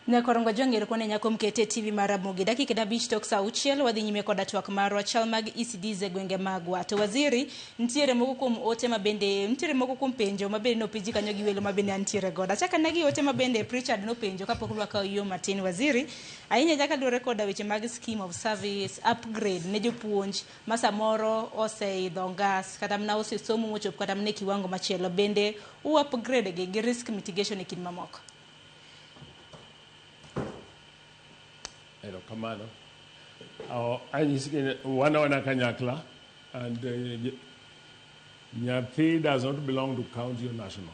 Nyakorongo jong'ere kone nyako mkete TV mar Ramogi dakika dabich tok saa auchiel wadhi nyime koda twak marwa chal mag ECDs e gwenge magwa. To waziri nitiere moko kuom ote ma bende nitiere moko kuom penjo ma bende nopenji kanyo gi welo ma bende antiere godo. Achaka negi ote ma bende Pritchard nopenjo kapok lwaka yo matin waziri. Ahinya ahinya kaluwore koda weche mag scheme of service, upgrade ne jopuonj, ma samoro oseidho ngas kata mana osesomo mochopo kata mana e kiwango machielo bende u upgrade gi gi risk mitigation e kind mamoko? Erokamano. Uh, anyisgi ni wan awana kanyakla and uh, nyathi does not belong to county or national.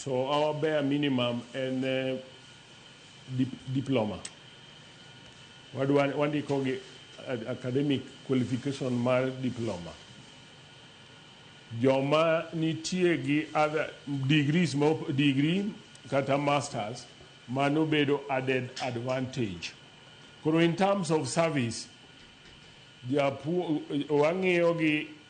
To our bare minimum en diploma. Wadwa wandiko gi academic qualification mar diploma. Joma nitie gi other degrees ma degree kata masters mano bedo added advantage. Koro in terms of service, japuo wang'iyo gi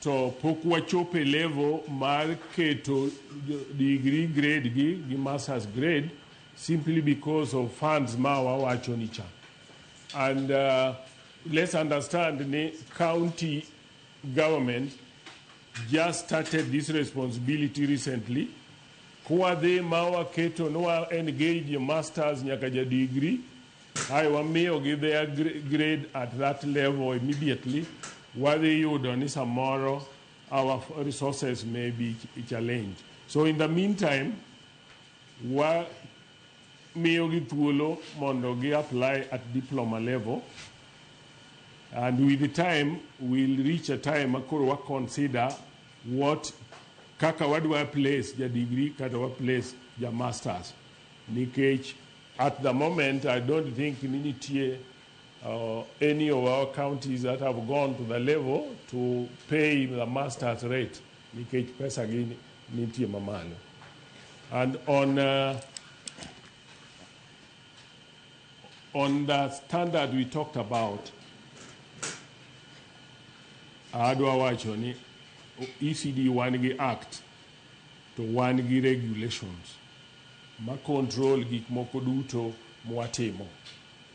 to pok wachopo e level mar keto degree grade gi gi masters grade simply because of funds ma wawacho ni cha and uh, let's understand ni county government just started this responsibility recently kwadhi ma waketo ni wa engage masters nyaka ja degree Kae wamiyogi their grade at that level immediately, wadhi yudo ni samoro our resources may be challenge. So in the meantime, wa miyogi thuolo mondo gi apply at diploma level and with the time we'll reach a time makoro wa consider what kaka wadwa place ja degree kata wa place ja masters nikech At the moment I don't think ni nitie uh, any of our counties that have gone to the level to pay the master's rate nikech pesa gi nitie mamalo. And on uh, on the standard we talked about, adwa wacho ni ECD wan gi act To wan gi regulations ma control gik moko duto mwatimo.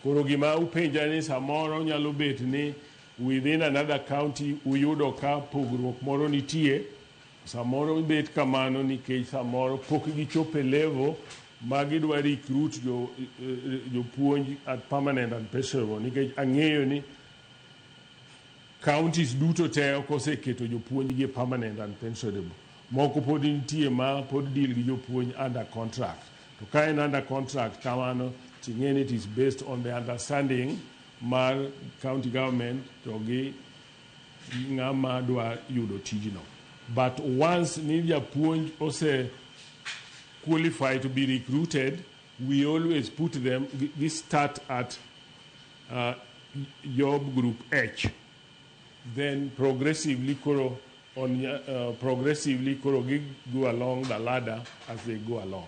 Koro gima upenja ni samoro nyalo bet ni within another county uyudo ka pogruok moro nitie, samoro bet kamano nikech samoro pok gichopo e level ma gidwa recruit jo jopuonj at permanent and perishable nikech ang'eyo ni counties duto te ok oseketo jopuonjgi e permanent and pensionable. Moko podi nitie ma pod deal gi jopuonj under contract. To ka en under contract kamano to ing'e ni it is based on the understanding mar county government to gi ng'ama dwa yudo tijno. But once ni japuonj ose qualify to be recruited, we always put them, gi start at uh, job group H. Then progressively koro on uh, progressively koro gi go along the ladder as they go along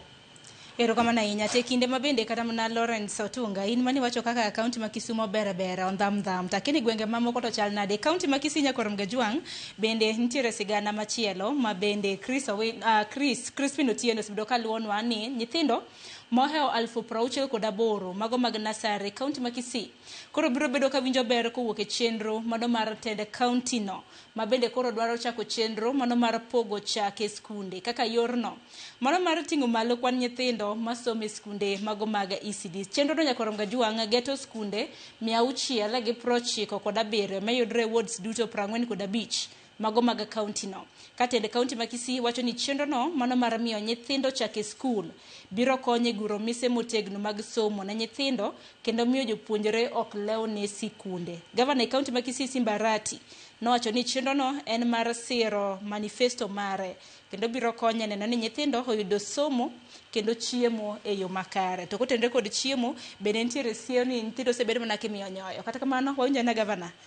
erokamano ahinya te kinde ma bende kata mana lawrence otunga in mane wacho kaka kaunti ma kisumo bere bere ondham dham takini gwenge mamoko to chal nade kaunti ma kisii nyakorom gajwang bende nitiere sigana machielo ma bende chris, Owi- ah, chris crispin otieno osebedo ka luwonwa ni nyithindo mohewo alfu prauchiel kod aboro mago mag nasari kaunti ma kisii koro biro bedo ka winjo ber kowuok e chenro mano mar tend kauntino ma bende koro dwaro chako chenro mano mar pogo chak e skunde kaka yorno mano mar ting'o malo kwan nyithindo masomo e skunde mago mag ECD. Chenrono nyaka orom gajwang' geto skunde mia auchiel gi prochiko kod abiriyo mayudre e wards duto prang'wen kod abich mago mag kauntino. Ka tend kaunti ma Kisii wacho ni chenrono mano mar miyo nyithindo chak e skul biro konyo e guro mise motegno mag somo ne nyithindo kendo miyo jopuonjre ok lew ne sikunde. Gavana e kaunti ma Kisii Simba Arati nowacho ni chenrono en mar siro manifesto mare kendo biro konye neno ni nyithindo oyudo somo kendo chiemo e yo makare. To kotenre kod chiemo bende nitiere siem ni nyithindo osebedo mana kimiyo nyoyo. Kata kamano wawinjo ane gavana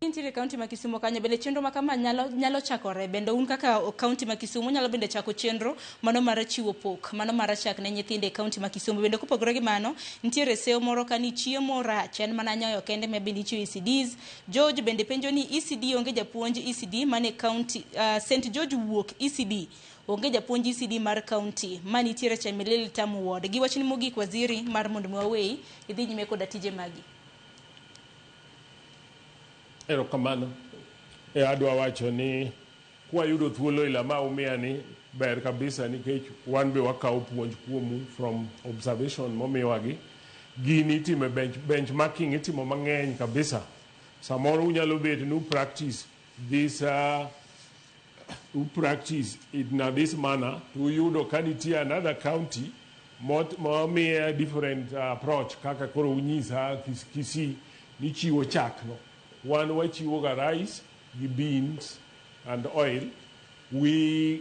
Intiere e kaunti ma Kisumo kanyo bende chenro ma kama nyalo, nyalo chakore bende un kaka kaunti ma Kisumo nyalo bende chako chenro mano mar chiwo pok mano mar chak ne nyithindo e kaunti ma Kisumo bende kopogore gi mano nitiere seyo moro ka ni chiemo rach en mana nyoyo kende ma bende ichiwo ECDs George bende penjo ni ECD onge japuonj ECD mane kaunti uh, St George wuok ECD onge japuonj ECD mar kaunti ma nitiere Chemelil Tamu Ward gi wachni mogik waziri mar mondo mi waweyi idhi nyime koda tije magi Erokamano. E adwa wacho ni kwayudo thuolo ila ma umiya ni ber kabisa nikech wan be wakawo puonj kuomu from observation momiwa gi. Gini itime bench, benchmarking itimo mang'eny kabisa. Samoro unyalo bet ni u practice this uh, who practice it in this manner to yudo ka nitie another county mot- momiye different uh, approach kaka koro unyisa Kis- Kisii nichiwo chakno wan wachiwoga rice gi beans and oil we,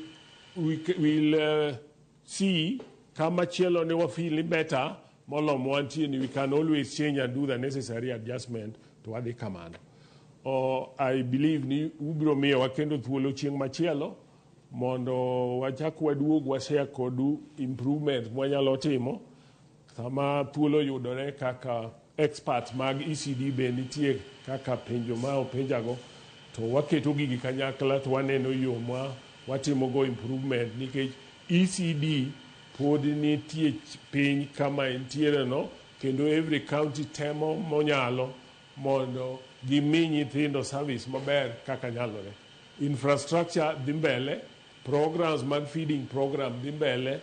we, c- will uh, Si, kama chielo ni wa feel ni better molom wantie ni we can always change and do the necessary adjustment to wadhi kamano. Oh, I believe ni ubiro miyo wakendo thuolo chieng' machielo mondo wachak waduog washare kodu improvement mwanyalo timo Sama thuolo yudore kaka experts mag ECD be nitie kaka penjo ma openjago to waketo gigi kanyakla to waneno yo ma watimogo improvement nikech ECD pod nitie piny kama entiereno kendo every county temo monyalo mondo gimi nyithindo service maber kaka nyalore. Infrastructure dhi mbele, programs mag feeding program dhi mbele.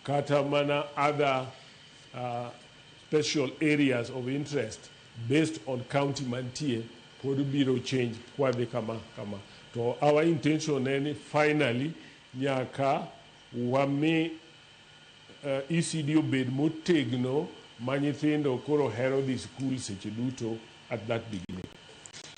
kata mana other special areas of interest based on county mantie pod biro change kwadhi kama kama to our intention en ni finally nyaka wami uh, ECD obed motegno ma nyithindo koro hero dhi skul seche duto at that beginning.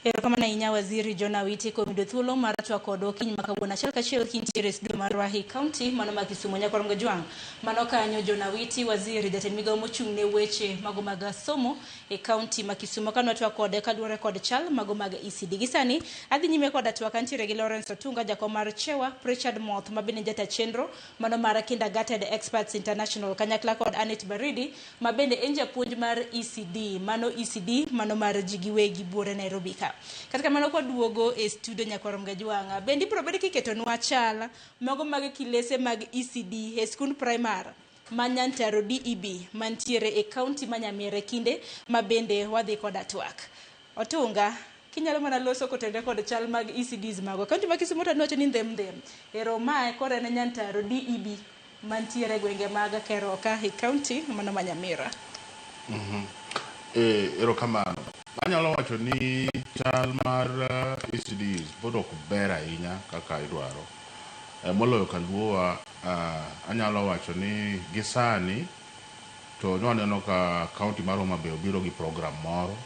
Erokamano ahinya Waziri John Awiti kuom yudo thuolo mar twaa kodwa okinyi ma kawuono achiel kachiel kintiere e studio mar Wahi County mano ma Kisumo Nyakwar Ngojwang'. Mano kanyo John Awiti waziri jatend migawo mochung' ne weche mago mag somo e county ma Kisumo ka nwatwaa kode kaluwore kod chal mago mag ECD. Gi sani adhi nyime koda twak antiere gi Lawrence Otunga jakom mar Chewa, Prichard Moth ma bende en jata chenro mano mar Kindergarten Experts International kanyakla kod Annet Baridi ma bende en japuonj mar ECD, mano ECD, mano mar ji giwegi buore Nairobi ka. Kata kamano kwaduogo e studio nyakwar Mgajwanga, bende ibiro bed kiketonwa chal mago mag kilese mag ECD e skund primar ma Nyantaro DEB mantiere e kaunti ma Nyamira e kinde ma bende wadhi koda twak. Otunga, kinyalo mana loso kotenre kod chal mag ECDs magwa. Kaunti ma Kisumo to aneno wacho ni ndhem ndhem. Ero mae koro en Nyantaro DEB mantiere gwenge mag Keroka e kaunti mano ma Nyamira. Eh, erokamano. Anyalo wacho ni chal mar eh, ECDs pod ok ber ahinya kaka idwaro. Eh, moloyo kaluowa, ah, anyalo wacho ni gisani to ne waneno ka kaonti mar Homa Bay obiro gi program moro,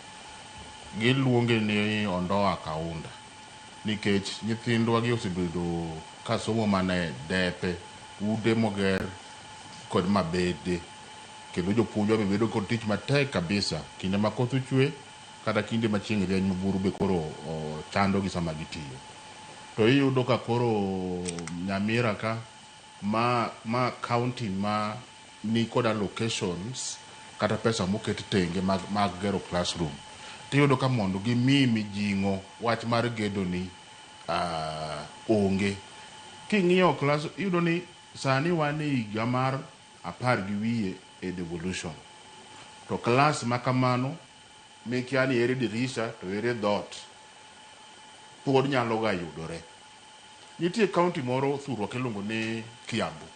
giluonge ni Ondoa Kaunda nikech nyithindwa gi osebedo ka somo mana e depe, ute moger kod mabede kendo jopuonjwa be bedo kod tich matek kabisa kinde ma koth ochwe kata kinde ma chieng' rieny ma buru be koro chandogi sama gitiyo. To iyudo ka koro Nyamira ka Ma ma county ma ni kod allocations kata pesa moket tenge mag mag gero classroom tiyudo ka mondo gi mi mijing'o wach mar gedo ni onge. King'iyo class iyudo ni sani wan e higa mar apar gi wiye e devolution to class ma kamano mikia ni ere dirisha to ere dhot pod nyalo ga yudore. Nitie county moro thurwa kiluongo ni Kiambu.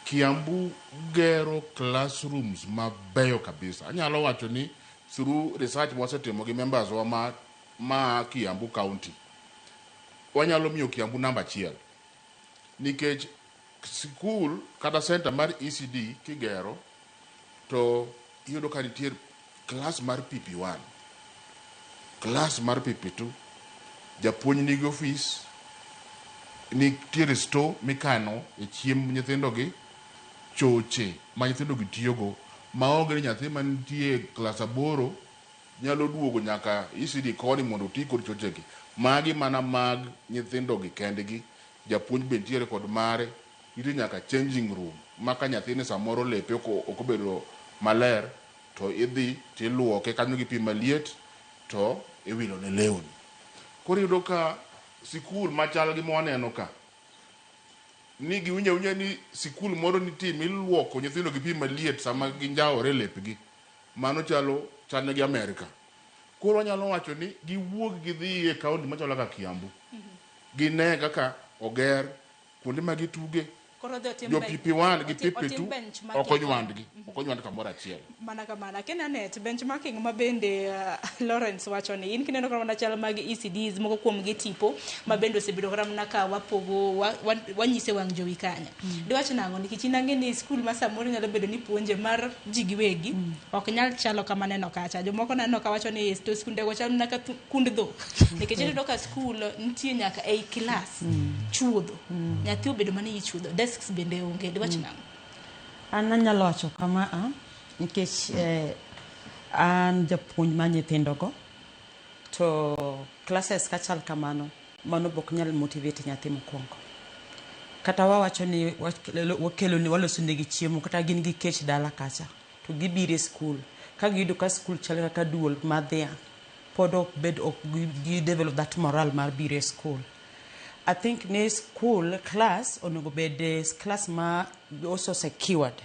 Kiambu gero classrooms mabeyo kabisa. Anyalo wacho ni through research ma wasetimo gi members wa ma ma Kiambu county, wanyalo miyo Kiambu namba achiel nikech Sikul kata center mar ECD kigero to iyudo ka nitie klas mar PP1, klas mar PP2, japuonj nigi ofis, nitiere store mikano e chiemb nyithindogi, choche ma nyithindogi tiyogo maonge ni nyathi mantie e klas aboro nyalo duogo nyaka ECD koni mondo oti kod chochegi. Magi mana mag nyithindogi kendgi. Japuonj be nitiere kod mare. Nitie nyaka changing room ma ka nyathini samoro lepe ok ok obedo maler to idhi to iluoke kanyo gi pi maliet to iwilo ne lewni. Koro iyudo ka sikul machal gi ma waneno ka ni giwinjo awinja ni sikul moro nitie ma iluoko nyithindo gi pi maliet sama ginjawore e lepgi. Mano chalo chal ne gi Amerka. Koro wanyalo wacho ni giwuog gidhi e kaunti machalo kaka Kiambu, gine kaka oger kuonde ma gituge, Koro odhi otim jo bench- PP1 gi otim- otim PP2 benchmarking. ok onywandgi, ok onywand kamoro achiel. mana kamana kendo anet benchmarking ma bende uh, lawrence wacho ni in kineno kata mana chal mag ecds moko kuom gi tipo ma bende osebedo kata mana ka wapogo wa- wa- wanyise wang' jowi kanyo Diwach nang'o? Nikech in ang'e ni skul ma samoro nyalo bedo ni puonje mar ji giwegi mm. ok nyal chalo kama neno kacha. Jomoko naneno ka wacho ni to skundego chalo mana ka kund dhok. Mm. Nikech iyudo ka skul nitie nyaka ei klas mm. chuodho. Nyathi obedo mana iyi chuodho. Desks bende onge. Diwach nang'o? An anyalo wacho kama a ah, nikech eh, an japuonj ma nyithindogo to classes kachal kamano Mano be ok nyal motivate nyathi mokwongo. Kata wawacho ni wakelone walosonegi chiemo kata gin gi kech dala kacha to gibiro e skul ka giyudo ka skul chal kaka duol mar dhiang' pod ok bed ok gi develop that moral mar biro e skul. I think ni skul klas onego bed klas ma also secured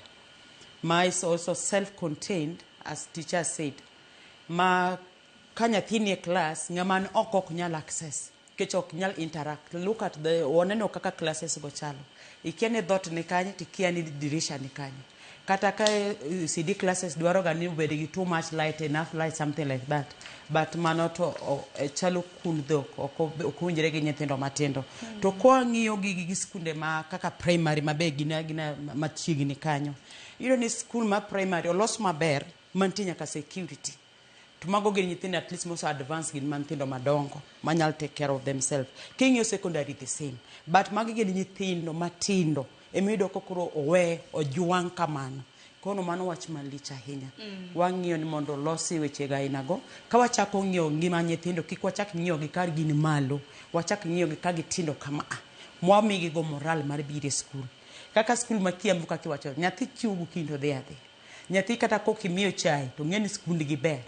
ma is also self contained as teacher said ma Ka nyathi nie class ng'a man oko ok nyal access nikech ok nyal interact. Look at the oneno kaka classes go chalo. Ikia ni dhoot ni kanye to ikia ni dirisha ni kanye. Kata ka ECD classes dwaro ga ni obed gi too much light, enough light, something like that. But mano to chalo kund dhok ok ok owinjore gi nyithindo matindo. To kwang'iyo gi gi skunde ma kaka primary ma be gin agina machiegni kanyo, iyudo ni skul ma primary olos maber mantie nyaka security. To mago gin nyithindo at least mose advance gin ma nyithindo madongo manyal take care of themselves. King'iyo secondary the same. But magi gin nyithindo matindo emiyudo ka koro owe ojwang' kamano. Kono mano wach malich ahinya. Wang'iyo ni mondo olosi wechego aina go. Ka wachako ng'iyo ngima nyithindo kik wachak ng'iyo gi ka gin malo. Wachak ng'iyo gi ka gitindo kama a. Mwamigi go moral mar biro e skul. Kaka skul ma Kiambu kaka iwacho nyathi chiewo gokinyi to odhi adhiya. Nyathi kata kok imiyo chai to ng'eni skund gi ber.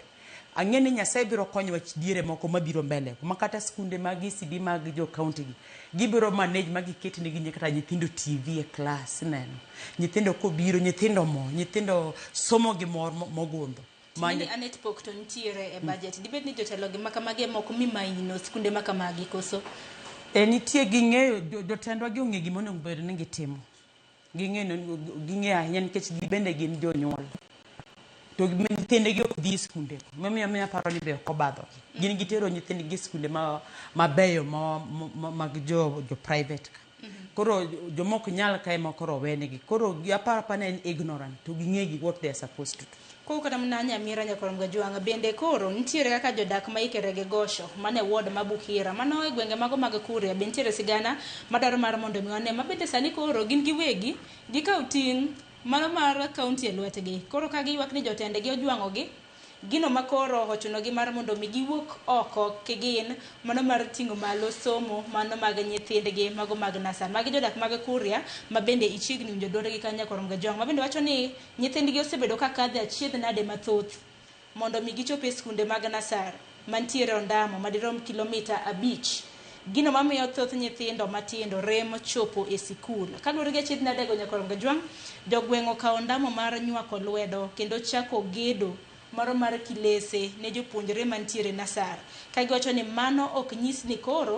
Ang'e ni Nyasaye biro konyowa diere moko mabiro mbele kuma kata skunde mag ECD mag jo county gi gibiro manage ma giket ne gi kata nyithindo TV e class ineno. Nyithindo kobiro nyithindo mor, nyithindo somo gi mor mogundho. Mani Mani anet pok to nitiere e budget. Dibed ni jotelo gi makamagi ema ok mi maino skunde makamagi koso? E nitie ging'eyo jo- jotendwa gi ong'e gima onego bed ni gitimo. Ging'e ging'e ahinya nikech gi bende gin jonyuol. To gi- nyithindegi ok dhi e skunde. Mamiyo miyo aparo ni be ok obadho. Gin gitero nyithindgi e skunde ma mabeyo ma, ma mag jo, jo private ka. Koro jomok nyal ka ema koro owenegi. Koro gi- aparo apara ni en ignorant to ging'e gi what they are supposed to do. Koro kata mna Nyamira Nyakorom Gajwang' bende koro nitiere kaka jodak ma ikere gi Gosho man e ward ma Bukhira mano e gwenge mago mag Kuria be nitiere sigana madwaro mar mondo mi wane ma bende sani koro gin giwegi gikaw ting' mano mar county e lwetgi koro ka giywak ni jotendgi ojwang'ogi gino ma koro ochunogi mar mondo mi giwuok oko kigin mano mar ting'o malo somo mano mag nyithindgi mago mag nasar. Magi jodak mag Kuria ma bende ichiegni winjo duondgi kanyo Nyakorom Gajwang' ma bende wacho ni Nyithindgi osebedo ka kadhe achiedh nade mathoth mondo mi gichop e skunde mag nasar mantiere ondamo madirom kilomita abich. Gino mamiyo thoth nyithindo matindo rem chopo e sikul. Kaluwore gi achiedh nadego Nyakorongajwang', jogweng' okawo ondamo mar nywako lwedo kendo chako gedo moro mar kilese ne jopuonjre mantiere nasar, ka giwacho ni mano ok nyis ni koro,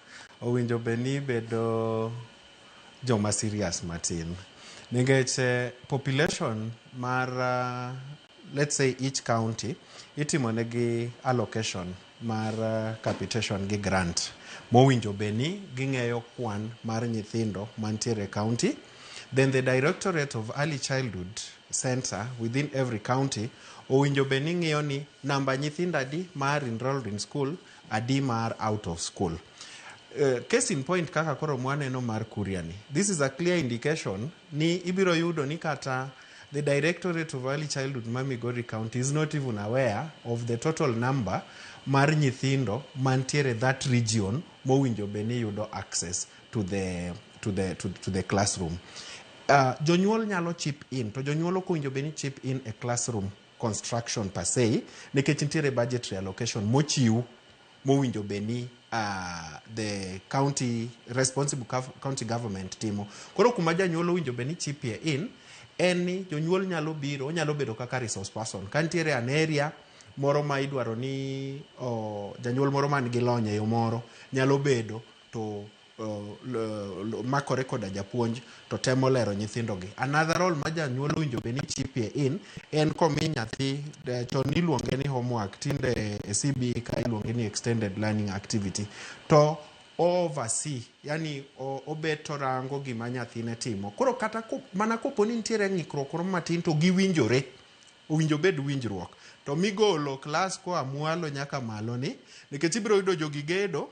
Owinjo be ni ibedo joma serious matin. Nikech eh, population mar uh, let's say each county itimo negi allocation mar uh, capitation gi grant mowinjo be ni ging'eyo kwan mar nyithindo mantiere e county then the directorate of early childhood center within every county owinjo be ni ng'iyo ni namba nyithindo adi ma are enrolled in school Adi mar out of school. Uh, case in point kaka koro mwaneno mar Kuria ni. This is a clear indication ni ibiro yudo ni kata the Directorate of Early Childhood ma Migori County is not even aware of the total number mar nyithindo mantiere that region mowinjo be ni yudo access to the, to the, to, to the classroom. Uh, jonyuol nyalo chip in to jonyuol ok owinjo be ni chip in a classroom construction per se nikech nitiere budgetary allocation mochiw mowinjo be ni uh, the county responsible gov- county government timo koro kuma janyuol owinjo be ni chipie in en ni jonyuol nyalo biro onyalo bedo kaka resource person ka nitiere an area moro ma idwaro ni o, janyuol moro man gi lony e yo moro nyalo bedo to makore koda japuonj to temo lero nyithindogi. Another role ma janyuol owinjo bed ni chipie in en komi nyathi eh, chon niluonge ni homework tinde e CBE ka iluonge ni extended learning activity to oversee yani o- obet to rango gima nyathine timo koro kata ko- mana kopo ni nitiere ng'ikruok moro matin to giwinjore owinjo bed winjruok to migolo klas koa mwalo nyaka malo ni nikech ibiro yudo jogi gedo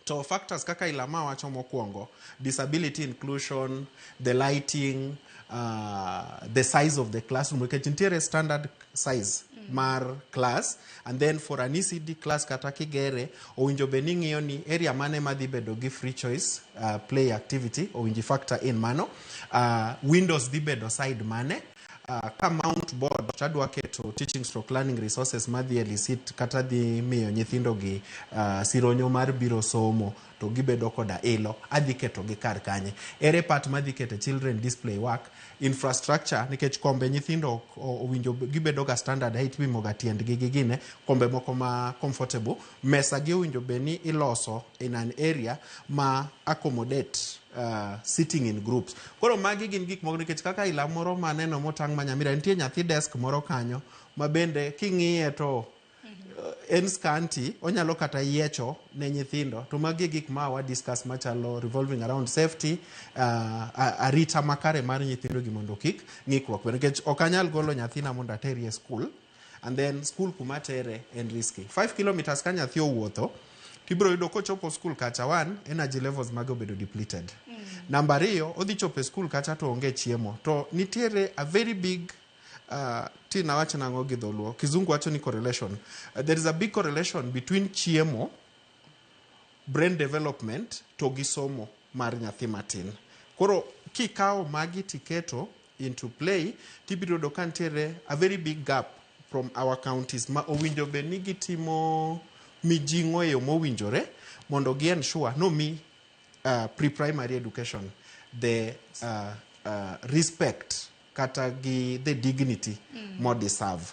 To factors kaka Ilama wacho mokwongo, disability inclusion, the lighting, uh, the size of the classroom. Nikech nitiere standard size mar class and then for an ECD class kata kigere owinjo bed ni ng'iyo ni area mane madhi bedo gi free choice uh, play activity owinji factor in mano uh, windows dhi bedo side mane Uh, ka mount board to adwa keto teaching stroke learning resources madhi elicit kata dhi miyo nyithindogi uh, sironyo mar biro somo to gibedo koda ilo adhi ketogi kar kanye ere part madhi kete children display work infrastructure nikech kombe nyithindo ok o- owinjo gibedo ga standard height ipimo ga tiendgi gi gine kombe moko ma comfortable mesa gi owinjo bed ni iloso in an area ma accommodate Uh, sitting in groups. Koro magi gin gik moko nikech kaka ila moro ma neno motang' ma Nyamira nitie nyathi desk moro kanyo ma bende king'iye to uh, en scanty onyalo kata yiecho ne nyithindo to magi e gik ma wa discuss machalo revolving around safety uh, a- arita makare mar nyithindogi mondo kik ng'ikruok bed nikech ok anyal golo nyathina mondo aterie e skul and then school kuma tere en risky 5 kilometers ka nyathi owuotho tibiro yudo kochopo school kacha one energy levels mage obedo depleted mm. namba ariyo odhi chopo e school kacha to onge chiemo to nitiere a very big uh, ti nawacho nang'o gi dholuo kizungu wacho ni correlation uh, there is a big correlation between chiemo brain development to gi somo mar nyathi matin koro kikawo magi tiketo into play to ibiro yudo ka nitiere a very big gap from our counties ma owinjo bed ni gitimo mijing'o e yo mowinjore mondo gi ensure nomi uh, pre-primary education the uh, uh, respect kata gi the dignity mm. modeserve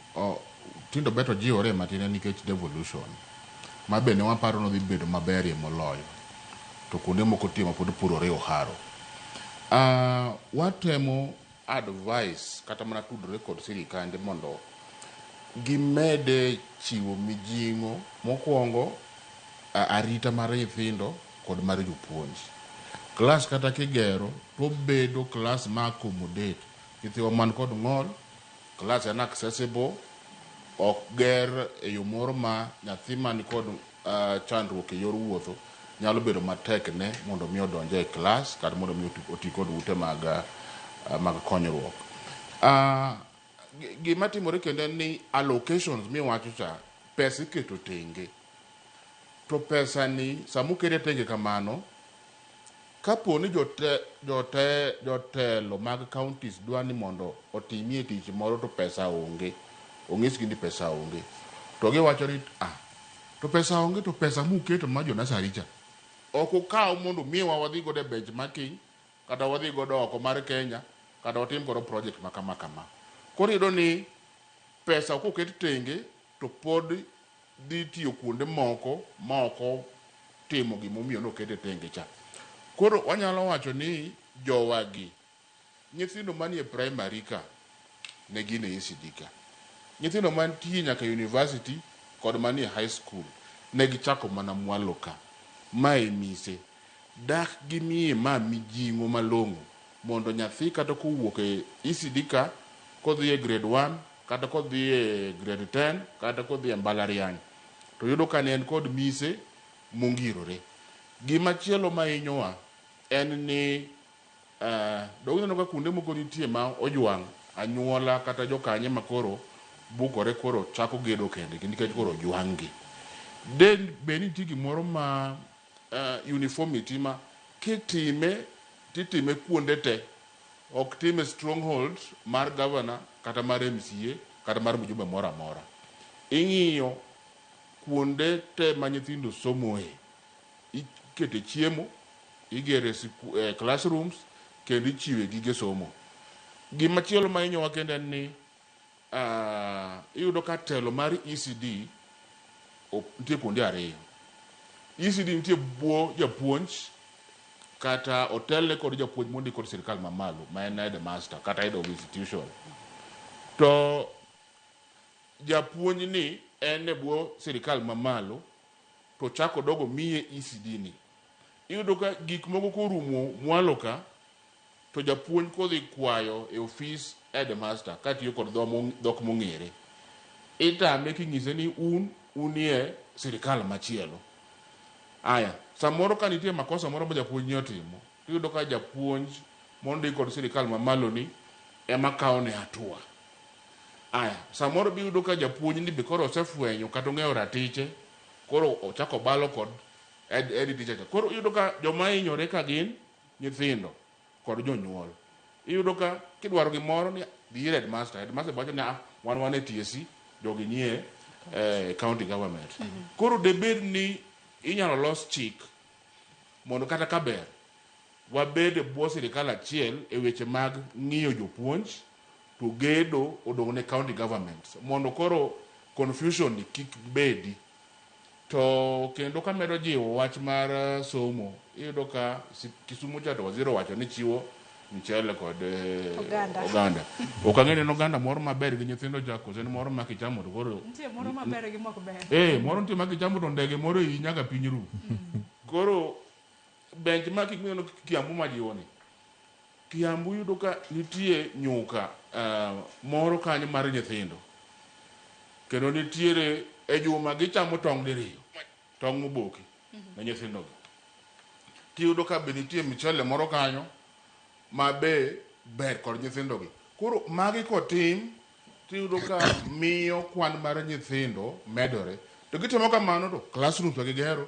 Oh, tindo beto jiwore matin en nikech devolution. Ma be ne waparo nodhi bedo maberie moloyo. To kuonde moko tie ma pod purore oharo. Ah, watemo advice kata mana tudore kod sirikande mondo gimede chiwo mijing'o mokwongo a- arita mar nyithindo kod mar jopuonj. Klas kata kigero to obedo klas ma accommodate nyithiwa man kod ng'ol Class en accessible, ok ger e yo moro ma nyathi man kod chandruok e yor wuotho nyalo bedo matek ne mondo mi odonj e class kata mondo mi oti kod ute mag mag konyruok. Gima timore kendo en ni allocations miwacho cha, pesa iketo tenge. To pesa ni sama okete tenge kamano, Kapo ni jotelo mag counties dwa ni mondo otimie tich moro to pesa onge, onyisgi ni pesa onge, to giwacho ni ah, to pesa onge to pesa muketo mar jo nursery cha, ok ukaw mondo umiwa wadhi godo e bench marking kata wadhi godo oko mar Kenya kata watim godo project ma kama kama. Koro iyudo ni pesa koket tenge to pod dhi tiyo kuonde moko ma ok otimo gima omiyo nokete tenge cha. Koro wanyalo wacho ni jowagi, nyithindo manie primary ka ne gin e ECD ka. Nyithindo mantie nyaka university kod manie high school ne gichako mana mwalo ka. Ma e mise. Dak gimiye ma mijing'o malong'o mondo nyathi kata kowuok e ECD ka kodhi e grade one, kata kodhi e grade ten kata kodhi e mbalariany to yudo ka ne en kod mise mongirore. Gimachielo mahinyowa en ni be uneno ka kuonde moko nitie ma ojwang' anyuola kata jokanyo ema koro bukore koro chako gedo kendgi nikech koro ojwang' gi. De bed ni nitie gimoro ma uniformity ma kitime to itime kuonde te. Ok time e stronghold mar governor kata mar MCA kata mar mjumbe moro amora. Ing'iyo kuonde te ma nyithindo somoe, ikete chiemo, igere classrooms kendo ichiwe gige somo. Gimachielo ma inyowa kendo en ni Uh, iyudo ka telo mar ECD nitie kuonde ariyo. ECD nitie bwo japuonj kata otelne kod japuonj mondi kod sirkal mamalo ma en headmaster kata head of institution to japuonj ni en e bwo sirkal mamalo to chako dogo miye ECD ni iyudo ka gik moko korumo mwalo ka To japuonj kodhi kwayo e ofis headmaster katiyo kod dhok mong'ere, itame king'ise ni un unie sirikal machielo. Aya, samoro ka nitie makosa moro ma japuonj ni otimo, tiyudo ka japuonj mondik kod sirikal mamalo ni ema kawo ne hatua. Aya, samoro be iyudo ka japuonj ni be koro osefwenyo kata ong'eyo ratiche, koro ochako obalo kod head teacher cha. Koro iyudo ka joma hinyore ka gin nyithindo kod jonyuol iyudo ka kidwaro gimoro ni dhi ir headmaster, headmaster wacho ni ah, wan wan e TSC, jogi nie eh, county government. Koro debed ni inyalo los chik mondo kata ka ber wabed e bwo sirikal achiel e weche mag ng'iyo jopuonj to gedo odong' ne county governments mondo koro confusion ni kik bedi. To kendo kamedo jiwo wach mar somo, iyudo ka Kisumo cha to waziri owacho ni chiwo mchele kod oganda. oganda. Ok ang'e ni en oganda moro maber gi nyithindo cha koso en moro ma kichamo to koro Nitie moro maber gi mok ber. eh moro nitie ma kichamo to ndege moro iyi nyaka piny ru. Koro Bench ma king'iyo Kiambu majiwoni, Kiambu iyudo ka nitie nyuka moro kanyo mar nyithindo kendo nitiere e juma gichamo tong' diriyo, tong' moboki ne nyithindogi. Tiyudo ka be nitie mchele moro kanyo ma be ber kod nyithindogi. Koro magi kotim tiyudo ka miyo kwan mar nyithindo medore. To gitimo kamano to classrooms be gigero.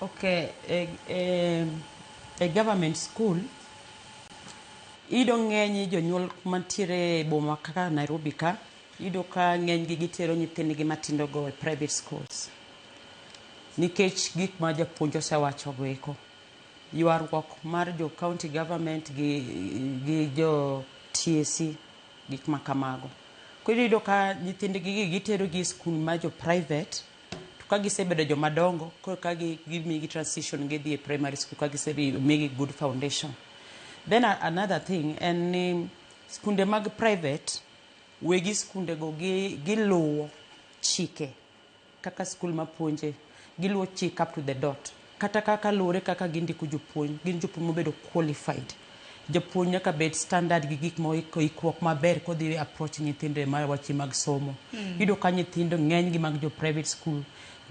Ok e government school iyudo ng'eny jonyuol mantiere e boma kaka Nairobi ka iyudo ka ng'enygi gitero nyithindgi matindogo e private schools nikech gik ma japuonj osewachogo eko. Ywaruok mar jo county government gi jo TSC gik ma kamago. Koro iyudo ka nyithindgigi giterogi e skul ma jo private To ka gisebedo joma dongo, koro ka gi gimigi transition gidhi e primary school ka gisebi migi good foundation. Then a- another thing en ni skunde mag private wegi skunde go gi giluwo chike kaka skul mapuonje giluwo chik up to the dot. Kata ka kaluwore kaka gindiko jopuonj, gin jopuonj mobedo qualified. Japuonj nyaka bed standard gi gik ma iko ikruok maber kodhi approach nyithindo e mar wache mag somo. Iyudo ka nyithindo ng'eny gi mag jo private school,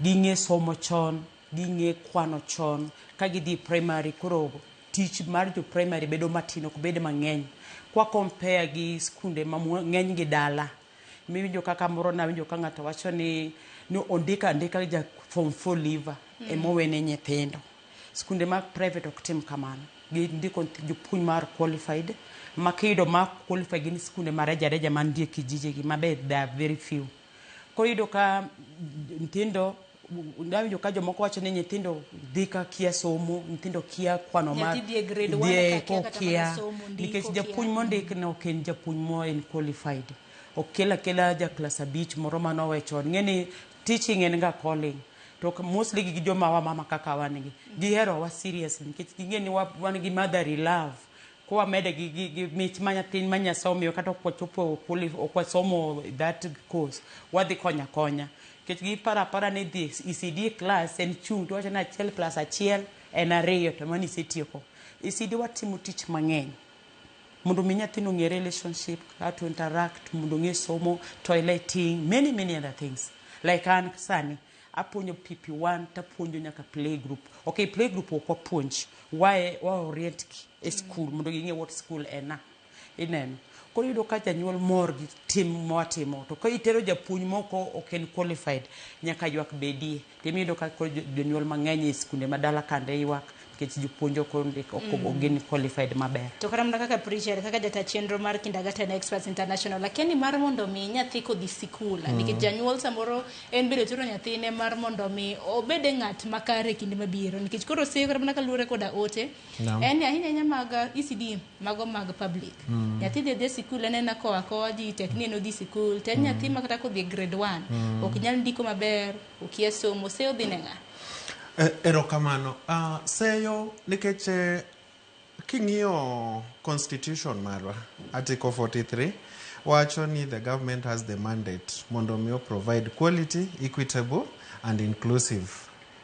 ging'e somo chon, ging'e kwano chon, ka gidhi e primary koro tich mar jo primary bedo matin ok bed mang'eny. Kwa compare gi skunde ma mwa ng'eny gi dala. Miwinjo kaka moro nawinjo ka ng'ato wacho ni ni ondika andika ja form 4 liver mm. emowene nyithindo. Skunde mag private ok tim kamano. Gindiko jopuonj mar qualified ma kiyudo ma qualified gin skunde ma reja reja mantie kijijegi mabe they are very few. Koro iyudo ka nyithindo Dawinjo ka jomoko wacho ni nyithindo dhi ka kia somo, nyithindo kia kwano ma Nyathi dhie grade one dhie ka kia kata mana kokia somo, ndiko, nikech kia japuonj ang'o. mondik no ok en japuonj mo en qualified. Ok kel akela ja klas abich moro mane owe chon. Ing'eni teaching en ga calling. To ka- mostly gi joma wamama kaka wan gi, giherowa seriously nikech ging'e ni wa- wan gi motherly love. Koro wamede gi, gi, gi mich ma nyathi ma Nyasaye omiyo kata ok wachopo quali- ok wasomo that course, wadhi konyo akonya. Nikech giparo apara ni dhi ECD klas en chung' to iwacho ni achiel plus achiel en ariyo to mano isetieko. ECD watimo tich mang'eny mondo omi nyathino ong'e relationship, how to interact, mondo ong'e somo, toileting, many many other things. Like an sani apuonjo PP1 tapuonjo nyaka play group. Okay, play group ok wapuonj, wa wa orient gi e skul mondo ging'e what skul en a. Ineno? Koro iyudo ka janyuol mor gi tim mwatimo. To ka itero japuonj mok ok en qualified, nyaka ywak bedie. To ema iyudo ka koro jonyuol mang'eny e skunde ma dala kande ywak nikech jopuonj ok ondik, ok mm. gin qualified maber. To kata mana kaka preacher, kaka jata chenro mar Kindergarten Experts International, akia ni mar mondo mi nyathi kodhi sikul, mm. nikech janyuol samoro en biro tero nyathine mar mondo mi obede ng'at makare kinde mabiro, nikech koro siko kata mana kaluwore koda ote, no. en ahinya ahinya mag ECD mago mag public mm. nyathi dhi dhi sikul en ena koa koa ji tek ni en odhi sikul to en mm. nyathi ma kata kodhi grade one mm. ok nyal ndiko maber okia somo se odhi ne ng'a e, erokamano uh, seyo nikech eh, king'iyo constitution marwa article 43 wacho ni the government has the mandate mondo mi o provide quality equitable and inclusive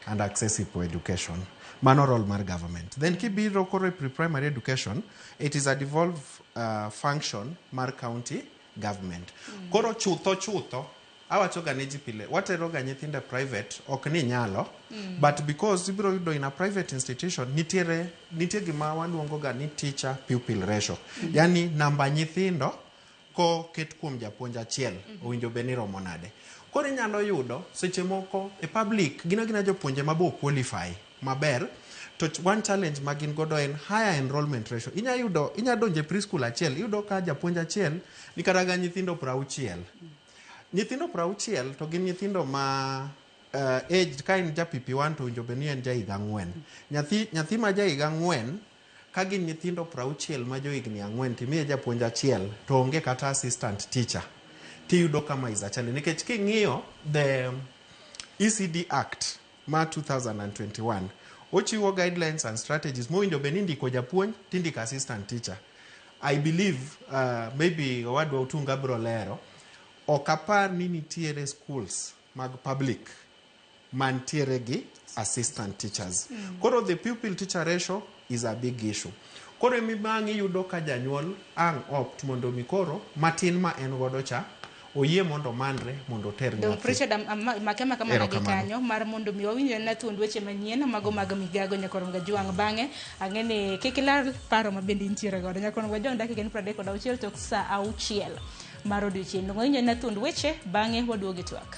and accessible education. Mano role mar government. Then kibiro koro e pre-primary education, it is a devolved uh, function mar county government. Mm. Koro chutho chutho awachoga ne ji pile wateroga nyithindo e private ok ni nyalo mm. but because ibiro yudo in a private institution nitiere nitie gima waluongoga ni teacher pupil ratio mm. yani namba nyithindo koket kuom japuonj achiel owinjo bed ni romo nade. Koro inyalo yudo seche moko e public gin agina jopuonje ma be o qualify maber to ch- one challenge ma gin godo en higher enrollment ratio. Inya yudo inya donjo e preschool achiel iyudo ka japuonj achiel ni kata ga nyithindo prauchiel. Nyithindo prauchiel to gin nyithindo ma uh, age ka en ja PP1 to owinjo bed ni en ja higa ang'wen. Nyathi nyathi ma ja higa ang'wen Ka gin nyithindo prauchiel ma jo higni ang'wen to imiye japuonj achiel to onge kata assistant teacher to iyudo ka ma is a challenge nikech king'iyo the ECD Act ma 2021 ochiwo guidelines and strategies mowinjo bed ni indiko japuonj to indiko assistant teacher. I believe uh, maybe owadwa Otunga biro lero ok apar ni nitiere schools mag public mantiere gi assistant teachers. Koro the pupil teacher ratio is a big issue. Koro ema ang' iyudo ka janyuol ang' opt mondo mi koro matin ma en godo cha oyie mondo omanre mondo oter Donk nyathi. Prechard am- am- ma- make maka mana gi Erokamano. kanyo mar mondo mi wawinjre na thuond weche manyien mago mag migago nyakorom gajwang' bang'e ang'e ni kik ilar paro ma bende intiere godo nyakorom gajwang' dakika en pradek kod auchiel tok saa auchiel mar odiochieng' donge wawinjre na thuond weche bang'e waduogi twak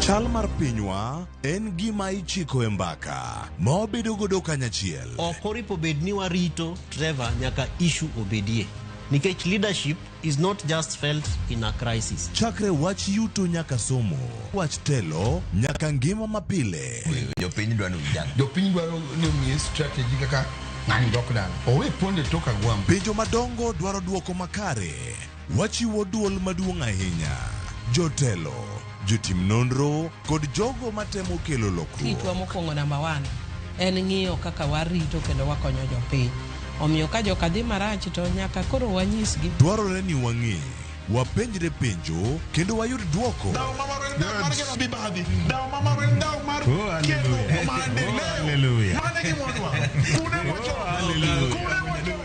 Chal mar pinywa en gima ichiko e mbaka ma wabedo godo kanyachiel. ok oripo bed ni warito Trevor nyaka issue obedie nikech leadership is not just felt in a crisis Chakre wach yuto nyaka somo, wach telo nyaka ngima mapile. jopiny dwani ujang jopiny dwaro ni omiye strategy kaka ng'ani dok dala owe pondo e tok agwambo Penjo madongo dwaro dwoko makare. Wachiwo dwol maduong' ahinya, jotelo, jotim nonro, kod jogo matemo kelo lokruok. Kitwa mokwongo namba one en ng'iyo kaka warito kendo wakonyo jopiny. Omiyo ka joka dhi marach to nyaka koro wanyisgi. Dwarore ni wang'e, wapenjre penjo, kendo wayud dwoko. Dhaw ma maro en dhaw mar gero mibadhi. Dhaw ma maro en dhaw mar Oh, hallelujah. kelo maendeleo. Oh, hallelujah. Mane gimodwa. Kune wacho. Oh, hallelujah. Kune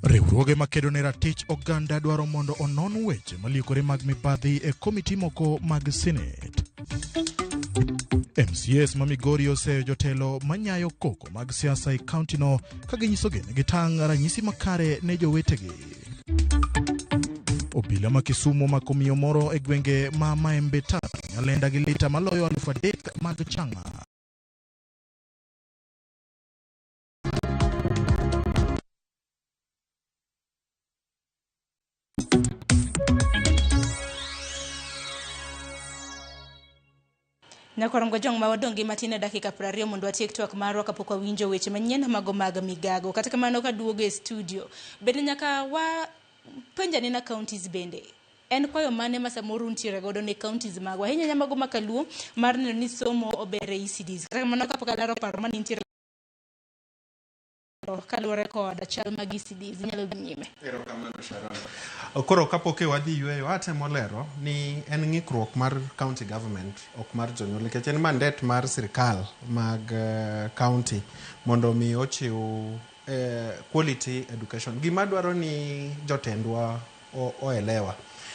Riwruoge makedo ne ratich oganda dwaro mondo onon weche maliekore mag mibadhi e komiti moko mag Senate. MCS ma Migori oseyo jotelo manyayo koko mag siasa e kauntino ka ginyiso gene gitang' ranyisi makare ne jowetegi. Obila ma Kisumo omako miyo moro e gwenge ma Maembe Tatu, Nyalenda gi lita maloyo aluf adek mag chang'a. Nyakwarongo jong ma wadong' gi matin e dakika 20 mondo watiek twak marwa kapok wawinjo weche manyien mago mag migago. Kata kamano ka duogo e studio, bende nyaka wa penja nena counties bende. En kwayo mane ma samoro untiere godo ne counties magwa ahinya ahinya mago ma kaluo mar neno ni somo ober e ECDs. Kata kamano kapok alaro paro mane intiere kaluwore kod chal mag ECD zinyalo dhi nyime. Koro kapok e wadhi yueyo, atemo lero ni en ng'ikruok mar county government ok mar jonyuol nikech en mandet mar sirkal mag eh, county mondo mi ochiw eh, quality education. Gima dwaro ni jotendwa o elewa.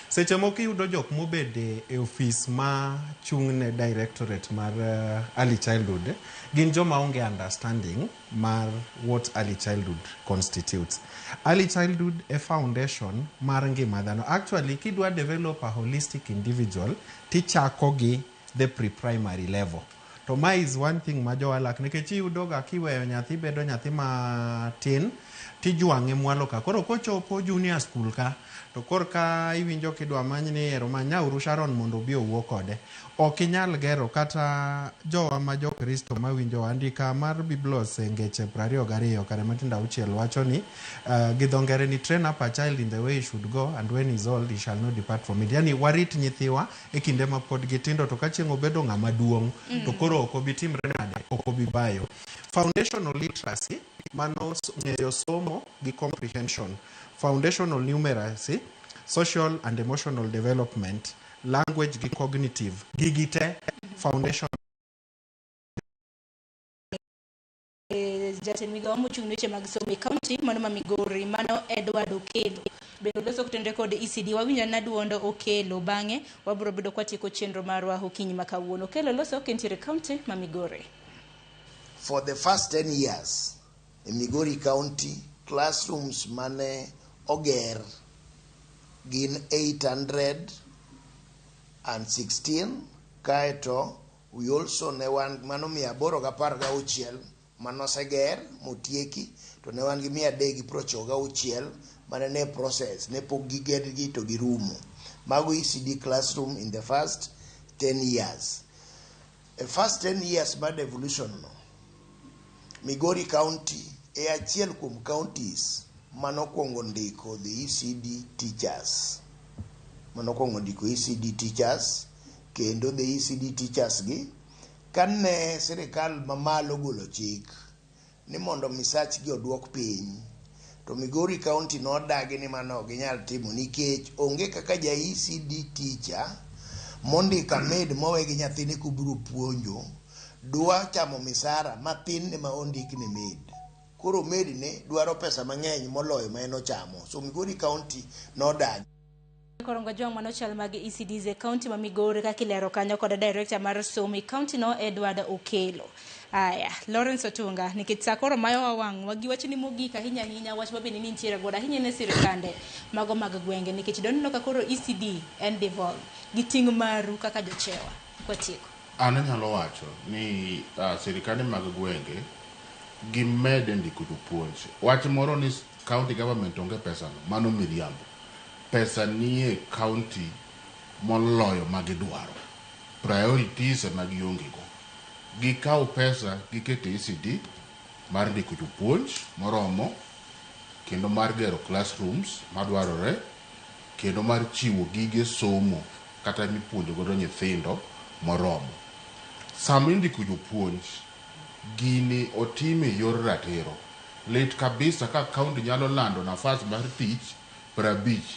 Seche moko iyudo jok mobed e ofis ma chung' ne directorate mar uh, early childhood gin joma onge understanding mar what early childhood constitutes. Early childhood e foundation mar ngima dhano. Actually kidwa develop a holistic individual tichako gi the pre primary level to ma is one thing ma jowalak nikech iyudoga kiweyo nyathi bedo nyathi matin tijwang'e mwalo ka koro kochopo junior school ka to korka iwinjo kidwa many ni ero manyauru Sharon mondo obi owuo kode ok inyal gero kata jowa ma jokristo mawinjo andika mar biblos e ngeche prariyo gariyo kare matindo auchiel wacho ni uh, gi dho ngere ni train up a child in the way he should go and when he is old he shall not depart from it yani warit nyithiwa e kinde ma pod gitindo to ka chieng' obedo ng'ama duong' mm. to koro ok obi timre nade ok obi bayo foundational literacy mano ng'eyo somo gi comprehension foundational numeracy social and emotional development language gi cognitive gigi te foundation e, jatend migawo mochung' ne weche mag somo e kaunti mano ma Migori mano Edward Okelo bende oloso kotende kod ECD wawinjo na duond Okelo bang'e wabiro bedo kwatieko chenro marwa okinyi ma kawuono Okelo loso kentiere kaunti ma Migori For the first 10 years in Migori County, classrooms mane oger gin 816 kaeto We also ne wan gi mano mia aboro gi apar gi auchiel mane oseger motieki to ne wan gi mia adek gi piero chiko gi auchiel mane ne process ne pok gigedgi to girumo. Mago ECD classroom in the first 10 years. E first 10 years mar devolution no, Migori County e achiel kuom counties mane okwongo ndiko the ECD teachers. Mane okwongo ndiko ECD teachers. kendo the ECD teachers gi kane sirikal mamalo golo chik ni mondo misach gi oduok piny to Migori County nodagi ni mano ok ginyal timo nikech onge kaka ja ECD teacher mondika med mowe gi nyathine kubiro puonjo dwa chamo misara mathin ne ma ondik ni med koro med ne dwaro pesa mang'eny moloyo ma en ochamo so Migori County nodagi Koro ngo jong mano chal mag ECDs e county ma Migori kaka ilero kanyo kod director mar somo e county no Edward Okelo. Aya, Lawrence Otunga, nikech saa koro mayo wa wang' wagi wach ni mogik ahinya ahinya wach ma bende ni nitiere godo ahinya ne sirkande mago mag gwenge nikech doneno ka koro ECD en devolve gi ting' maru kaka jochewa. Kwatieko. An anyalo wacho ni uh, sirkande mag gwenge gimed ndiko jopuonj. Wach moro ni county government onge pesano, mano miriambo. pesa nie county moloyo ma gidwaro, priorities ema gionge go. Gikaw pesa giket e ECD mar ndiko jopuonj moromo kendo mar gero classrooms madwarore kendo mar chiwo gige somo kata mipuonjo godo nyithindo moromo. Sama indiko jopuonj, gini otim e yor ratiro. Lit kabisa ka county nyalo lando nafas mar tich. prabich.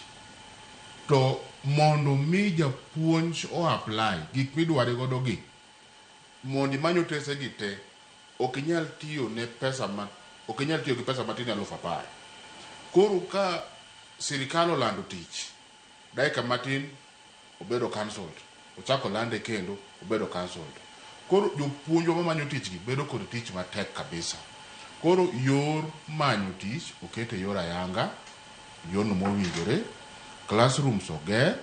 To mondo mi japuonj o apply gik midware godo gi, mondo imany otese gi te, ok inyal tiyo ne pesa ma ok inyal tiyo gi pesa matin alufu apar. Koro ka sirikal olando tich, dakika matin Obedo cancelled. Ochak olande kendo, obedo cancelled. Koro jopuonjwa mamanyo tich gi bedo kod tich matek kabisa. Koro yor manyo tich oket e yor ayanga, yorno mowinjore, classrooms oger,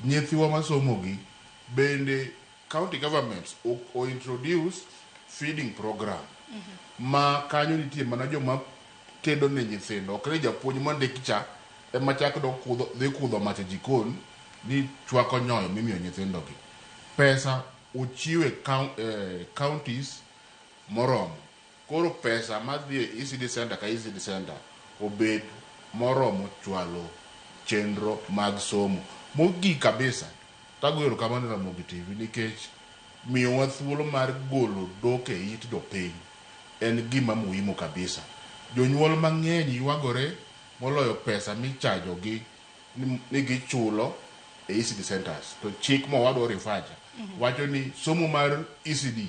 nyithiwa masomo gi bende. County governments o introduce feeding program ma kanyo nitie mana joma tedo ne nyithindo ok ni japuonj mondik cha ema chak dok kudho dhi kudho mach e jikon ni chwako nyoyo mimiyo nyithindo gi. Pesa ochiw e counties moromo. Koro pesa madhi e ECD centre ka ECD centre obed moromo chwalo chenro mag somo. Mogik kabisa, tagoyo erokamano ne Ramogi TV nikech miyowa thuolo mar golo dhok e it jopiny. En gima muhimu kabisa. Jonyuol mang'eny ywagore moloyo pesa michajogi ni gichulo e ECD centres. To chik mowadwa o refer cha wacho ni somo mar ECD,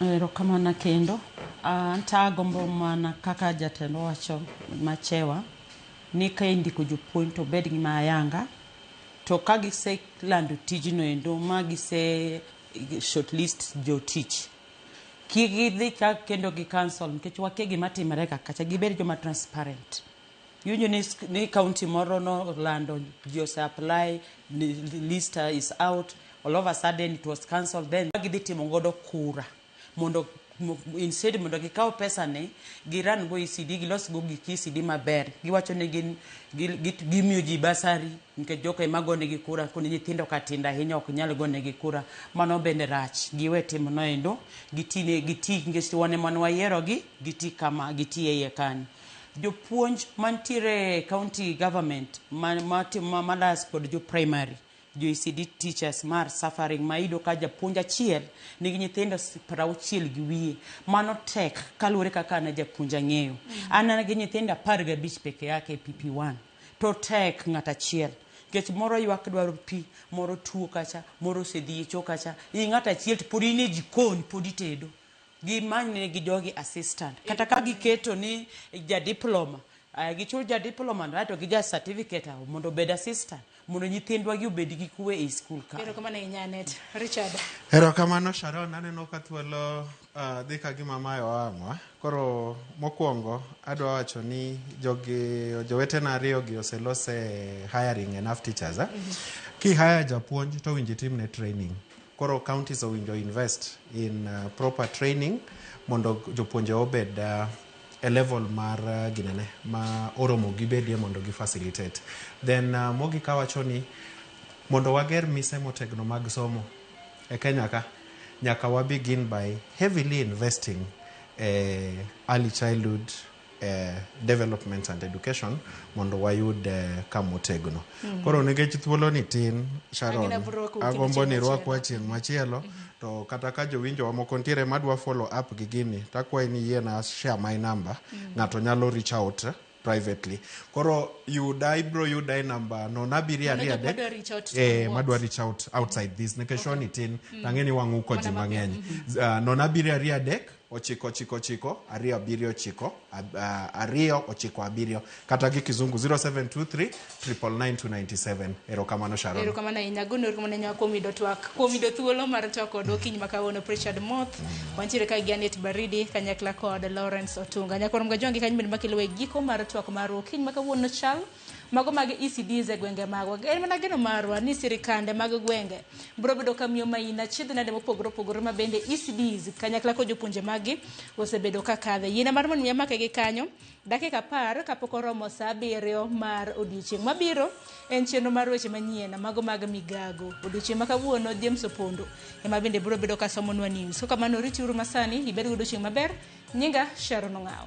Erokamano kendo. Anto agombo mana kaka jatendwa wacho Machewa ni ka indiko jopuonj to obed gi ma ayanga to ka giselando tijno endo ma gise short list jotich kik gidhi ka kendo gi cancel nikech wakia gima timore ga kacha. Gibed joma transparent. Iwinjo ni, ni county moro nolando ji ose apply ni- list is out all of a sudden it was cancelled then gidhi timo godo kura mondo mo- instead mondo gikaw pesa ni giran go ECD gilos go gik ECD maber giwacho ni gin gi- gi- gimiyo ji basari nikech joko ema gonegi kura koni nyithindo ka tindo ahinya ok nyal gonegi kura mano bende rach giwe timo noendo gitine giti nikech wan ema ne wayierogi giti kama giti e iye kanyo Jopuonj mantiere e county government ma, ma, ma, malas kod jo primary jo ECD teachers mar suffering ma iyudo ka japuonj achiel nigi nyithindo s- prauchiel gi wiye mano tek kaluwore kaka an japuonj ang'eyo an an gi nyithindo apar gabich peke yake e PP1 to tek ng'at achiel nikech moro ywak dwaro pi moro tuo kacha moro osedhi e cho kacha i ng'at achiel to pod in e jikon pod itedo Gimany ne gi jogi assistant. Kata ka giketo ni ja diploma, eh, gichul ja diploma no, aeto gi ja certificate awo mondo obed assistant. Mondo nyithindwa gi obed gi kuwe ei skul ka. Erokamano ahinya Anet. Richard. Erokamano Sharon, aneno ka thuolo uh, dhi ka gima mae oang'wa. Koro mokwongo adwa wacho ni jogi jowetena ariyogi oselose hiring enough teachers. Eh? Ki hire japuonj to winji timne training. Koro counties owinjo invest in proper training mondo jopuonje obed e level mar ginene ma oromo gibedie mondo gi facilitate. Then mogik awacho ni mondo wager mise motegno mag somo e Kenya ka nyaka wa begin by heavily investing e early childhood development and education mondo wayud ka motegno. Koro nikech thuoloni tin, Sharon, Agina bro rwako agombo chieng' ni machielo. rwakwa chieng' machielo to kata ka jowinjowa moko ntiere madwa follow up gi gini takwayi ni yiena share my number ng'ato nyalo reach out privately koro yuda ibro yuda e namba nono abiriyo Mano ariyo jok adek madwa reach out to eh, what? madwa reach out outside this nikech shoni tin tang'e ni wang'u ko ji Mana mang'eny Ah, nono abiriyo ariyo adek ochiko ochiko ochiko ariyo abiriyo ochiko ab- ah, ariyo ochiko abiriyo kata gi kizungu 0723 99997 erokamano sharon erokamano ahinya agono erokamano ahinya kuom yudo twak kuom yudo thuolo mar twak kodwa okinyi ma kawuono Richard Moth wantiere ka gi Anet Baridi kanyakla kod Lawrence Otunga nyakwarom ga jongi kanyo bende makelowa e giko mar twak mar okinyi ma kawuono chal Mago mag ECDs e gwenge magwa. En mana geno marwa ni sirikande mag gwenge biro bedo ka miyo maina achiedh nade mopogore opogore ma bende ECDs kanyakla kod jopuonje maggi osebedo ka kadhe. Yiena mar mondo mi amake gi kanyo dakika apar kapok oromo saa abiriyo mar odiechieng' mabiro en chenro mar weche manyien mago mag migago. Odiechieng' ma kawuono James Opondo ema bende biro bedo ka somonwa news. Kaka mano ritiuru masani ibed gi odiechieng' maber. Nyinga Sharon Ong'aw.